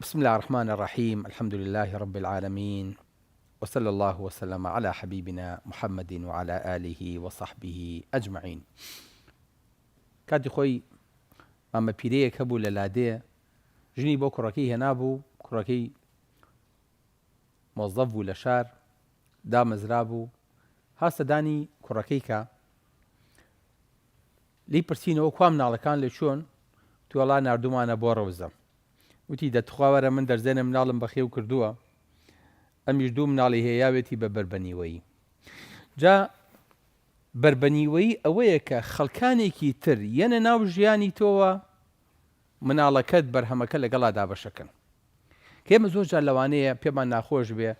بسم اللە الرحمن الرحیم الحمد للە رب العالمین وصلی اللە وسلم علی حبیبنا محمد وعلی آله وصحبه اجمعین کاتی خۆی مامە پیرەیەک هەبوو لە لادێ ژنی بۆ کوڕەکەی هێنابوو کوڕەکەی مۆزەف بوو لە شار دامەزرا بوو هاستە دانی کوڕەکەی کە لی پرسینەوە کوا مناڵەکان لە چۆن توێڵا نردومانە بۆ ڕەوزە وتی دە تخوا وەرە من دەرزێنە مناڵم بەخێو کردووە ئەمیش دوو مناڵی هەیە یاوێتی بە بەر بەنیوەیی جا بەر بەنیوەیی ئەوەیە کە خەڵکانێکی تر یەنە ناو ژیانی تۆوە مناڵەکەت بەرهەمەکە لەگەڵا دابەشەکەن کێمە زۆر جار لەوانەیە پێمان ناخۆش بێ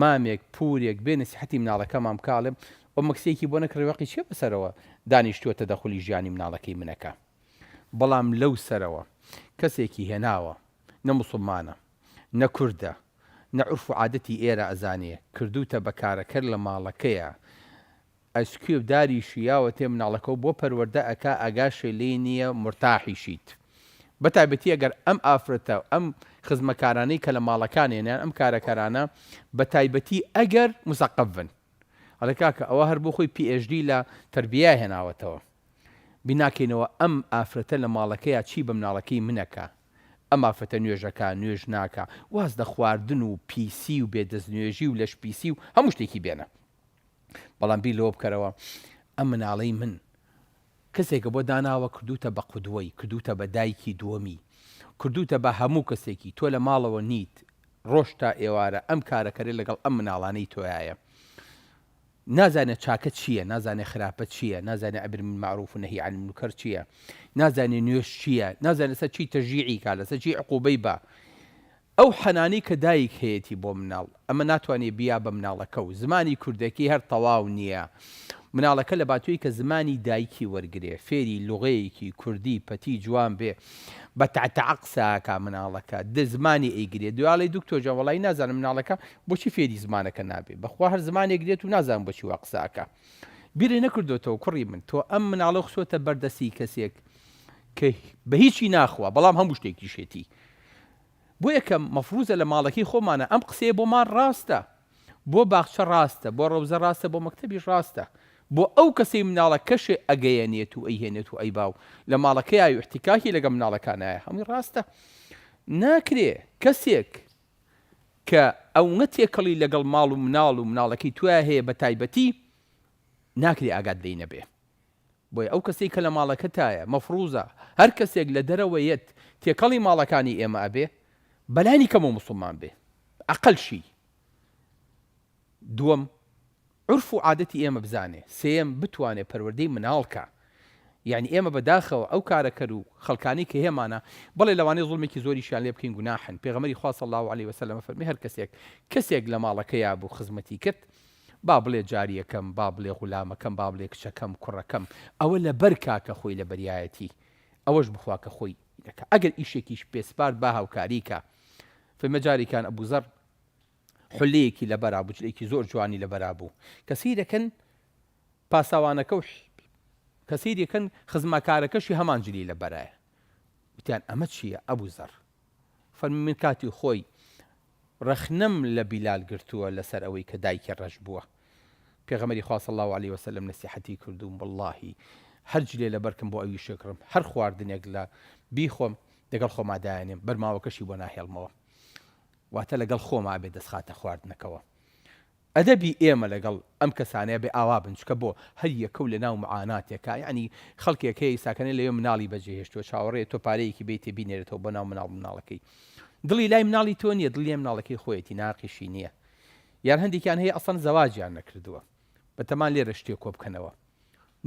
مامێک پورێک بێ نسیحەتی مناڵەکەمان بکاڵێم ئەو مەکسێکی بۆ نەکڕی وەقی چێ بەسەرەوە دانیشتووە تەدەخلی ژیانی مناڵەکەی منەکە بەڵام لەو سەرەوە کەسێکی هێناوە نە موسڵمانە نە کوردە نە عورف و عادەتی ئێرە ئەزانێ کردووتە بە کارەکەر لە ماڵەکەیا ئەسکوێ داری شیاوەتێ مناڵەکەو بۆ پەروەردە ئەکا ئاگاشێ لێی نییە مورتاحیشیت بە تایبەتی ئەگەر ئەم ئافرەتە ئەم خزمەکارانەی کە لە ماڵەکانێن یان ئەم کارەکەرانە بە تایبەتی ئەگەر موسەقەف بن ئەڵێ کاکە ئەوە هەر بۆ خۆی پی ئێش دی لە تەربییا هێناوەتەوە بیناکەینەوە ئەم ئافرەتە لە ماڵەکەیا چی بە مناڵەکەی من ئەکا ئەم ئافرەتە نوێژ ئەکا نوێژ ناکا واز لە خواردن و پیسی و بێ دەست نوێژی و لەش پیسی و هەموو شتێکی بێنە بەڵام بیر لەوە بکەرەوە ئەم مناڵەی من کەسێکە بۆ داناوە کردوتە بە قودوەی کردوتە بە دایکی دووەمی کردوتە بە هەموو کەسێکی تۆ لە ماڵەوە نیت ڕۆژ تا ئێوارە ئەم کارەکەرە لەگەڵ ئەم مناڵانەی تۆیایە نازانێ چاکە چییە، نازانێ خراپە چییە، نازانێ ئەمر بالمعروف و نەهی عن المنکر چییە، نازانێ نوێژ چییە، نازانێ لەسەر چی تەشجیعی کا، لەسەر چی عقوبەی با. ئەو حەنانەی کە دایک هەیەتی بۆ مناڵ، ئەمە ناتوانێ بیا بە مناڵەکە و زمانی کوردەکەی هەر تەواو نییە. مناڵەکە لەباتووی کە زمانی دایکی وەرگرێ، فێری لوغەیەکی کوردی پەتی جوان بێ، بە تەع تەع قسە ئەکا مناڵەکە دە زمانی ئەیگرێ دوێ ئەڵێی دکتۆر جان وەڵایی نازانم مناڵەکە بۆچی فێری زمانەکە نابێ بەخوا هەر زمانێ گرێت و نازانم بۆچی وا قسە ئەکا بیرێ نەکردۆتەوە کوڕی من تۆ ئەم مناڵە خسۆتە بەردەسی کەسێک کە بە هیچی ناخوا بەڵام هەموو شتێکیشێتی بۆ یەکەم مەفروزە لە ماڵەکەی خۆمانە ئەم قسەیە بۆمان ڕاستە بۆ باخچە ڕاستە بۆ ڕەوزە ڕاستە بۆ مەکتەبیش ڕاستە بۆ ئەو کەسەی مناڵە کەشێ ئەگەیەنێت و ئەیهێنێت و ئەیباو لە ماڵەکەیای و احتیکاکی لەگە مناڵەکانایە هەمووی ڕاستە ناکرێ کەسێک کە ئەونە تێکەڵی لەگەڵ ماڵ و مناڵ و مناڵەکەی تویا هەیە بەتایبەتی ناکرێ ئاگات لێی نەبێ. بۆیە ئەو کەسەی کە لە ماڵەکەتایە مەفڕوزە هەر کەسێک لە دەرەوە یەت تێکەڵی ماڵەکانی ئێمە ئەبێ بەلانی کەمەوە موسڵمان بێ ئەقەل شی دووەم عرف و عادەتی ئێمە بزانێ سێم بتوانێ پەروەردەی مناڵ کا یعنی ئێمە بەداخەوە ئەو کارەکەر و خەڵکانی کە هێمانە بەڵێ لەوانەیە زڵمێکی زۆریشیان لێ بکەین گوناحن پێغەمەری خوا صلی الله علیه وسلم فەرمی هەر کەسێک کەسێک لە ماڵەکەیا بوو خزمەتی کرد با بڵێ جاریەکەم، با بڵێ غولامەکەم، با بڵێ کچەکەم، کوڕەکەم، ئەوە لەبەر کا کە خۆی لەبەریایەتی، ئەوەش بخوا کە خۆی دەکا، ئەگەر ئیشێکیش پێ سپارد با هاوکاری کا، فەرمە جاریکان ئەبو زەڕ حولەیەکی لەبەرا بو، جلێکی زۆر جوانی لەبەرا بو، کە سەیرەکەن پاساوانەکەو کە سەیرەکەن خزمەکارەکەشی هەمان جلی لەبەرایە، وتیان ئەمە چیە ئەبو زەڕ فەرمی من کاتی خۆی، ڕەخنەم لە بیلال گرتووە لەسەر ئەوەی کە دایکی ڕەش بووە پێغەمبەری خوا صلی اللە علیە وسلم نەسیحەتی کردووم وەڵڵاهی هەر جلێ لە بەرکم بۆ ئەوی شێکڕم هەر خواردنێک لە بیخۆم دەگەڵ خۆما دایەنێم بەرماوەکەشی بۆ ناهێڵمەوە واتە لەگەڵ خۆما ئەبێ دەستخاتە خواردنەکەوە ئەدەبی ئێمە لەگەڵ ئەم کەسانەیە بێ ئاوا بن چکە بۆ؟ هەر یەکەو لە ناو معاناتێکە یانی خەڵکێک هەیە ئیساکەنێ لەوێ مناڵی بەجێ هێشتوە چاوەڕێیە تۆ پارەیەکی بەیتێ بینێرێتەوە بۆ ناو مناڵ مناڵەکەی دڵی لای مناڵی تۆ نیە دڵی لای مناڵەکەی خۆیەتی ناقیشی نیە یان هەندێکیان هەیە ئەسڵەن زەواجیان نەکردوە بەتەمان لێرە شتێ کۆبکەنەوە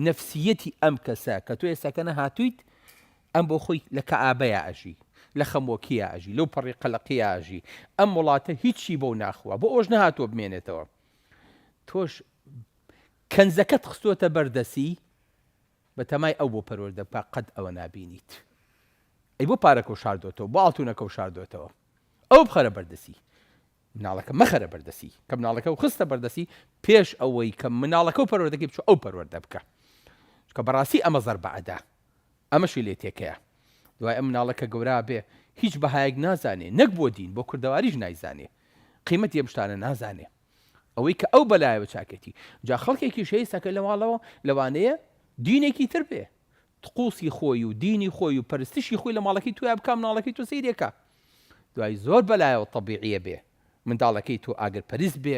نەفسیەتی ئەم کەسە کە تۆ ئێساکەنە هاتویت ئەم بۆ خۆی لە کەئابەیا ئەژی، لە خەمۆکیا ئەژی، لەو پەڕی قەلەقیا ئەژی، ئەم وڵاتە هیچی بۆ ناخوا، بۆ ئەوەش نەهاتووە بمێنێتەوە. تۆش کەنزەکەت خستۆتە بەر دەسی، بە تەمای ئەو بۆ پەروەردە بکە، قەت ئەوە نابینیت. ئەی بۆ پارەکەو شاردۆتەوە، بۆ ئاڵتونەکەو شاردۆتەوە؟ ئەوە بخەرە بەردەسی. مناڵەکە مەخەرە بەردەستی کە مناڵەکە و خستە بەردەستی پێش ئەوەی کە مناڵەکە و پەروەردەکەی بچوو ئەو پەروەردە بکە چکە بەڕاستی ئەمە زەر بەعدا ئەمەشی لێ تێکەیە دوای ئەم مناڵە کە گەورا بێ هیچ بەهایەک نازانێ نەک بۆ دین بۆ کوردەواریش نایزانێ قیمەت یەمشتانە نازانێ ئەوەی کە ئەو بەلایەوە چاکێتی جا خەڵکێکی شەیسەکە لە ماڵەوە لەوانەیە دینێکی تر بێ تقوسی خۆی و دینی خۆی و پەرستشی خۆی لە ماڵەکەی تۆیا بکا مناڵەکەی تۆ سەیری ئەکا دوای زۆر بەلایەوە تەبیعیە بێ منداڵەکەی تۆ ئاگر پەرست بێ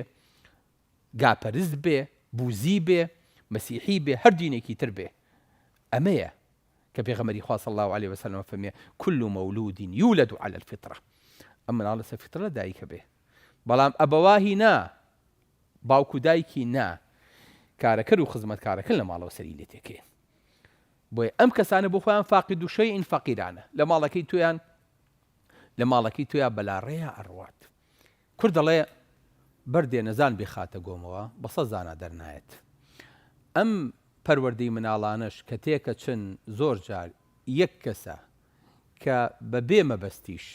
گا پەرست بێ بوزی بێ مەسیحی بێ هەر دینێکی تر بێ ئەمەیە کە پێغەمەری خوا صلی الله علیه وسلم فەرمی کل مولود یولد علی الفطرە ئەم مناڵ لەسەر فطرە دایکە بێ بەڵام ئەبەواهی نا باوکو دایکی نا کارەکەر و خزمەتکارەکە لە ماڵەوە سەری لێ تێکێ بۆیە ئەم کەسانە بۆ خۆیان فاقد و شەیئن فەقیرانە، لە ماڵەکەی تۆیان لە ماڵەکەی تۆیان بەلاڕێیا ئەڕوات. کورد دەڵێ، بەردێ نەزان بیخاتە گۆمەوە، بە سەد زانا دەرنایەت. ئەم پەروەردەی مناڵانەش کە تێکەچن زۆر جار یەک کەسە کە بە بێ مەبەستیش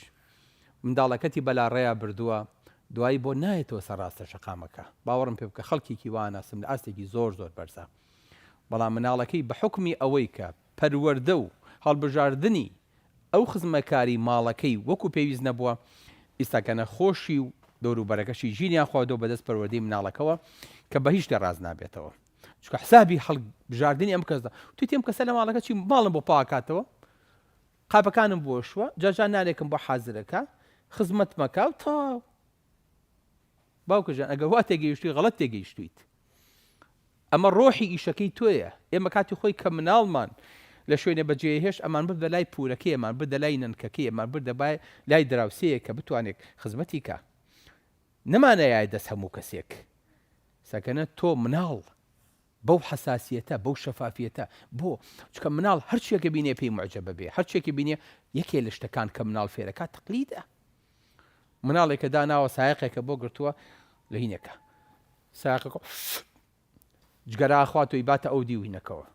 منداڵەکەتی بەلاڕێیا بردووە، دوایی بۆ نایەتەوە سەر ڕاستە شەقامەکە. باوەڕم پێ بکە خەڵکێکی وا ناسم لە ئاستێکی زۆر زۆر بەرزە. بەڵام مناڵەکەی بە حوکمی ئەوەی کە پەروەردە و هەڵبژاردنی ئەو خزمەکاری ماڵەکەی وەکو پێویست نەبووە، ئیستاکەنە خۆشی و دەوروبەرەکەشی ژینیان خواردووە بەدەست پەروەردەی مناڵەکەوە کە بەهیچ شتێ ڕاست نابێتەوە چونکە حسابی هەڵ بژاردنی ئەم کەسدا وتیتی ئەم کەسە لە ماڵەکە چی ماڵم بۆ پاکاتەوە قاپەکانم بۆشوە جاجا نانێکم بۆ حازرەکە خزمەت مەکە و تەواو باوکە جان ئەگەر وا تێگەیشتوی غەڵەت تێگەیشتویت ئەمە ڕۆحی ئیشەکەی تۆیە ئێمە کاتی خۆی کە مناڵمان لە شوێنێ بەجێ هێشت ئەمان بردە لای پورەکەی ئەمان بردە لای نەنکەکەی ئەمان بردە بای لای دراوسەیە کە بتوانێت خزمەتی کا نەمانەیە دەست هەموو کەسێک سەکەنە تۆ مناڵ بەو حساسیەتە بەو شەفافیەتە بۆ چکە مناڵ هەرچێکە بینێ پێی معجبە بێ هەرچێکی بینێ یەکێ لە شتەکان کە مناڵ فێرەکە تقلیدە مناڵێکە داناوە سایەقێکە بۆ گرتووە لە هینەکە سایەقەکە جگەرا ئەخوات و ئیباتە ئەو دیو هینەکەوە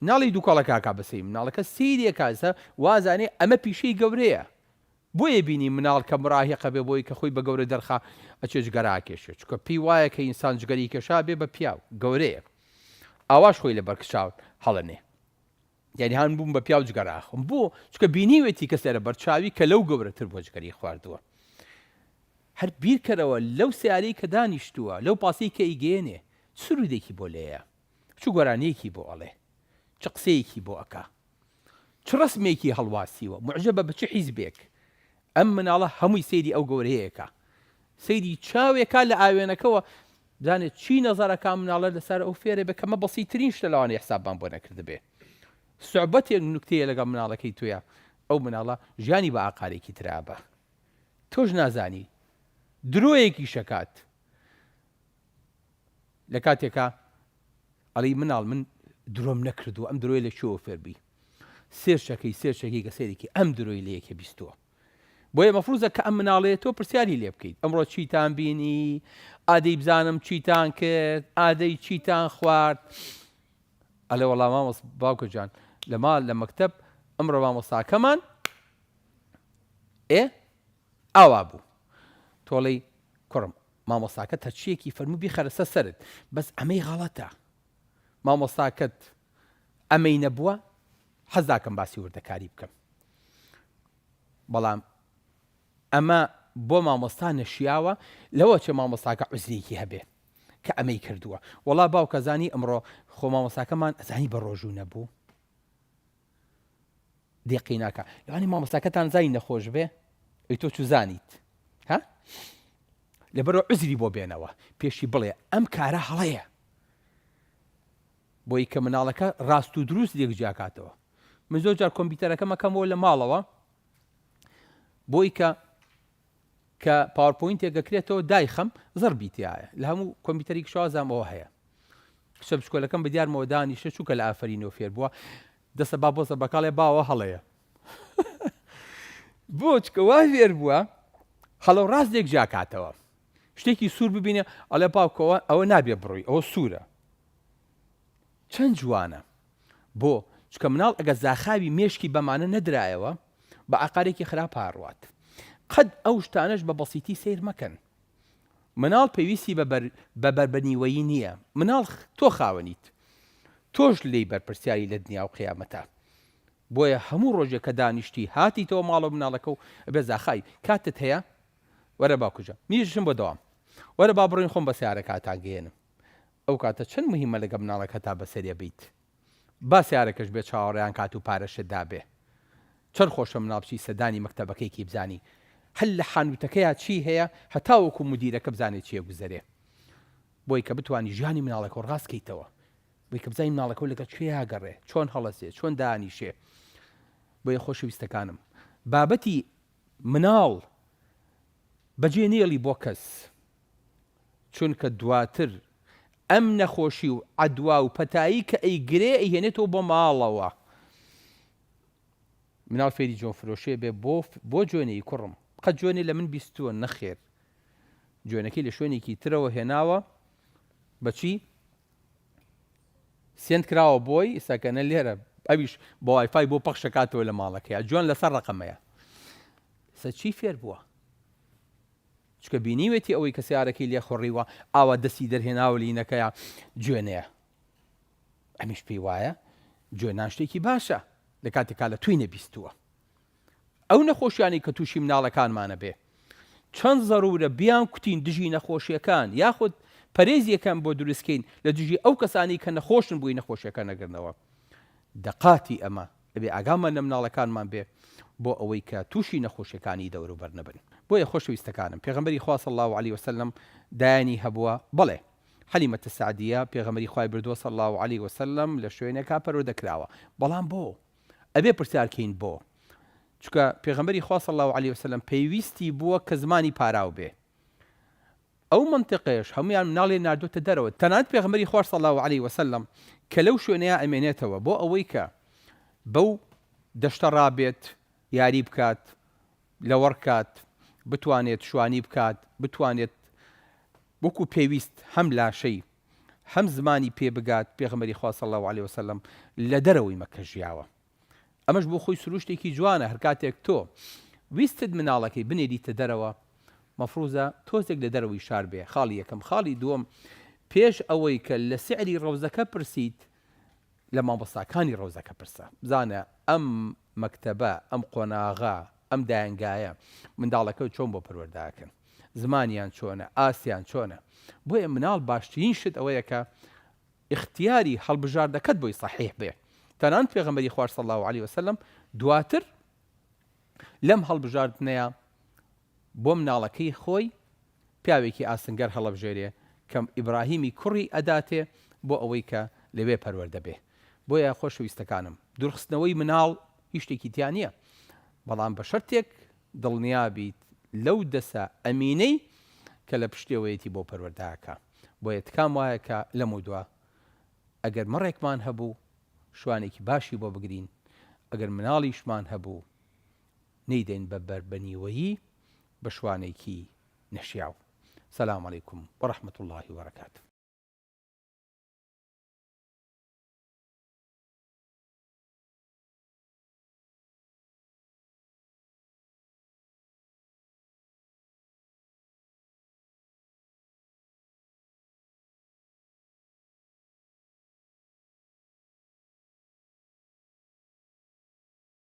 ناڵی دووکەڵەکە ئەکا بە سەی مناڵەکە سەیری ئەکا سە وازانێ ئەمە پیشەی گەورەیە بۆیە بینی مناڵ کە مراهیقە بێ بۆی کە خۆی بە گەورە دەرخا ئەچێ جگەرا ئەکێشێ چونکە پێی وایە کە ئینسان جگەری کێشا بێ بە پیاو گەورەیە ئاواش خۆی لەبەر کچاو هەڵەنێ یانی هان بووم بە پیاو جگەرە ئەخۆم بۆ چکە بینیوێتی کەس لێرە بەرچاوی کە لەو گەورەتر بۆ جگەری خواردووە هەر بیرکەرەوە لەو سیارەی کە دانیشتووە لەو پاسی کە ئیگەێنێ سرودێکی بۆ لێیە چ گۆرانیەکی بۆ ئەڵێ چ قسەیەکی بۆ ئەکا چ ڕسمێکی هەڵواسیوە معجە بە بچ حیزبێک ئەم مناڵە هەمووی سەیری ئەو گەورەیەکە سەیری چاوێکا لە ئاوێنەکەەوە بزانێت چی نەزەرە کام مناڵە لەسەر ئەو فێرە بێت کەمە بەسیترین شتە لەوانەیە حسابمان بۆ نەکردبێ سوعبەتێک نوکتەیە لەگەڵ مناڵەکەی تۆیە ئەو مناڵە ژیانی بە ئاقارێکی ترابە تۆش نازانی درۆیەکی شەکات لە کاتێکا ئەڵی مناڵ من درۆم نەکردو ئەم درۆی لە چۆوە فێربی سێرچەکەی سێرچەکەی گە سێرێکی ئەم درۆی لە یەکێ بیستووە بۆیە مەفروزە کە ئەم مناڵەیە تۆ پرسیاری لێ بکەیت ئەمڕۆ چیتان بینی ئادەی بزانم چیتان کرد ئادەی چیتان خوارد ئەلێ وەڵام مامۆس باوکە جان لە ماڵ لە مەکتب ئەمڕۆ مامۆستاکەمان ئێ ئاوا بوو تۆڵی کوڕم مامۆستاکە تەچیەکی فەرمو بیخەرەسە سەرت بەس ئەمەی غەڵەتە مامۆستاکەت ئەمەی نەبووە حەزناکەم باسی وردەکاری بکەم بەڵام ئەمە بۆ مامۆستا نەشیاوە لەوە چێ مامۆستاکە عزرێکی هەبێ کە ئەمەی کردووە وەڵا باوکەزانی ئەمڕۆ خۆ مامۆستاکەمان ئەزانی بە ڕۆژوو نەبوو دێقی ناکە لەوانی مامۆستاکەتان زای نەخۆش بێ ئەی تۆ چزانیت ها لەبەرەوە عزری بۆ بێنەوە پێشی بڵێ ئەم کارە هەڵەیە بۆی کە مناڵەکە ڕاست و دروست لێک جیاکاتەوە من زۆر جار کۆمپیوتەرەکەم ئەکەمەوە لە ماڵەوە بۆی کە کە پاورپۆینتێکە کرێتەوە دایخەم زڕبی تایە لە هەموو کۆمپیوتەری شازامەوە هەیە کچە بچکۆلەکەم بە دیارمەوە دانیشە چووکە لە ئافرینەوە فێر بووە دەسە با بۆزە بەکاڵێ باوە هەڵەیە بۆچکە وا فێر بووە هەڵە ڕاست لێک جیاکاتەوە شتێکی سوور ببینێ ئەڵێ باوکۆ ئەوە نابێ بڕوی ئەوە سوورە چەند جوانە بۆ چکە مناڵ ئەگە زاخاوی مێشکی بەمانە نەدرایەوە بە عقارێکی خراپ هاڕوات قەت ئەو شتانش بە بەسیتی سیر مەکەن مناڵ پێویستی بە بەربەنیوەیی نییە مناڵ تۆ خاوەنیت تۆش لی بەرپرسیاری لە دنیا و قیامەتە بۆیە هەموو ڕۆژێک کە دانیشتی هاتی تەوە ماڵە مناڵەکە و بێ زاخای کاتت هەیە وەرە با کوژم نیژژم بۆ دەوام وەرە با بڕۆین خۆم بە سەیارەکە ئەتانگەیەنم ئەو کاتە چەند موهیمە لەگە مناڵەکەتا بەسەرێ بیت با سەیارەکەش بێ چاوەڕێیان کات و پارەشت دابێ چەند خۆشە مناڵ بچی سەردانی مەکتەبەکەیکی بزانی هەر لە حانوتەکەیا چی هەیە هەتاوەکو مودیرەکە بزانێ چی ئەگوزەرێ بۆی کە بتوانی ژیانی مناڵەکەو ڕاست کەیتەوە بۆی کە بزانی مناڵەکەو لەگەڵ کوێ ئاگەڕێ چۆن هەڵەسێ چۆن دانیشێ بۆیە خۆشەویستەکانم بابەتی مناڵ بەجێ نێڵی بۆ کەس چونکە دواتر ئەم نەخۆشی و عەدوا و پەتایی کە ئەیگرێ ئەیهێنێتەوە بۆ ماڵەوە مناڵ فێری جۆن فرۆشێ بێ بۆ بۆ جۆنێی کوڕم قەت جۆنێ لە من بیستووە نەخێر جۆنەکەی لە شوێنێکی ترەوە هێناوە بەچی سێند کراوە بۆی سەکەنە لێرە ئەویش بە وایفای بۆ پەخشەکاتەوە لە ماڵەکەی جوان لەسەر ڕقەمەیە سە چی فێر بووە چکە بینیوێتی ئەوەی کە سیارەکەی لێ خوڕیوە ئاوا دەستی دەرهێناوە لینەکەیە جوێنەیە ئەمیش پێی وایە جوێنان شتێکی باشە لە کاتێکا لە توی نەبیستووە ئەو نەخۆشیانەی کە تووشی مناڵەکانمانە بێ چەند زەرورە بیان کوتین دژی نەخۆشیەکان یاخود پەرێزیەکان بۆ دروستکەین لە دژی ئەو کەسانی کە نەخۆشن بۆی نەخۆشیەکە نەگرنەوە دەقاتی ئەمە ئەبێ ئاگامان لە مناڵەکانمان بێ بۆ ئەوەی کە تووشی نەخۆشیەکانی دەوروبەر نەبن بۆیە خۆشەویستەکانم پێغمبەری خواص الله عليه وسلم دایانی هەبووە بڵێ حەلیمەتە سعدیە پێغمبەری خوای بردووە صلى الله عليه وسلم لە شوێنێکا پەرۆدە کراوە بەڵام بۆ ئەبێ پرسیار کەین بۆ؟ چونکە پێغەمبەری خوا صلی اللە علیە وسلم پێویستی بووە کە زمانی پاراو بێ ئەو مەنتقەیەش هەمویان مناڵێ ناردۆتە دەرەوە تەنانەت پێغەمبەری خوا صلی اللە علیە وسلم کە لەو شوێنەیە ئەمێنێتەوە بۆ ئەوەی کە بەو دەشتە ڕابێت یاری بکات لەوەڕ کات بتوانێت شوانی بکات بتوانێت وەکو پێویست هەم لاشەی هەم زمانی پێ بگات، پێغەمبەری خوا صلی اللە علیە وسلم لە دەرەوەی مەککە ژیاوە ئەمەش بۆ خۆی سروشتێکی جوانە هەرکاتێک تۆ ویستت مناڵەکەی بنێریتە دەرەوە مەفروزە تۆزێک لە دەرەوەی شار بێ خاڵی یەکەم خاڵی دووەم پێش ئەوەی کە لە سعری ڕەوزەکە پرسیت لە مامۆستاکانی ڕەوزەکە پرسە، بزانە ئەم مەکتەبە، ئەم قۆناغە، ئەم دایەنگایە منداڵەکەت چۆن بۆ پەروەردەئەکەن؟ زمانیان چۆنە؟ ئاستیان چۆنە؟ بۆیە مناڵ باشترین شت ئەوەیە کە ئیختیاری هەڵبژاردەکەت بۆی سەحیح بێ، تەنانەت پێغەمبەری خوا صلی اللە علیە وسلم دواتر لەم هەڵبژاردنەیا بۆ مناڵەکەی خۆی پیاوێکی ئاسنگەر هەڵەبژێرێ کە ئیبراهیمی کوڕی ئەداتێ بۆ ئەوەی کە لەوێ پەروەردە بێ بۆیە خۆشەویستەکانم دوورخستنەوەی مناڵ هیچ شتێکی تیا نیە بەڵام بە شەرتێک دڵنیا بیت لەو دەسە ئەمینەی کە لە پشتێوەیەتی بۆ پەروەردەکە بۆیە تکام وایە کە لەمەودوا ئەگەر مەڕێکمان هەبوو شوانێکی باشی بۆ بگرین ئەگەر مناڵیشمان هەبوو نەیدەین بە بەر بە نیوەیی بە شوانێکی نەشیاو. سلام علیکم و رحمە اللە و برکاته.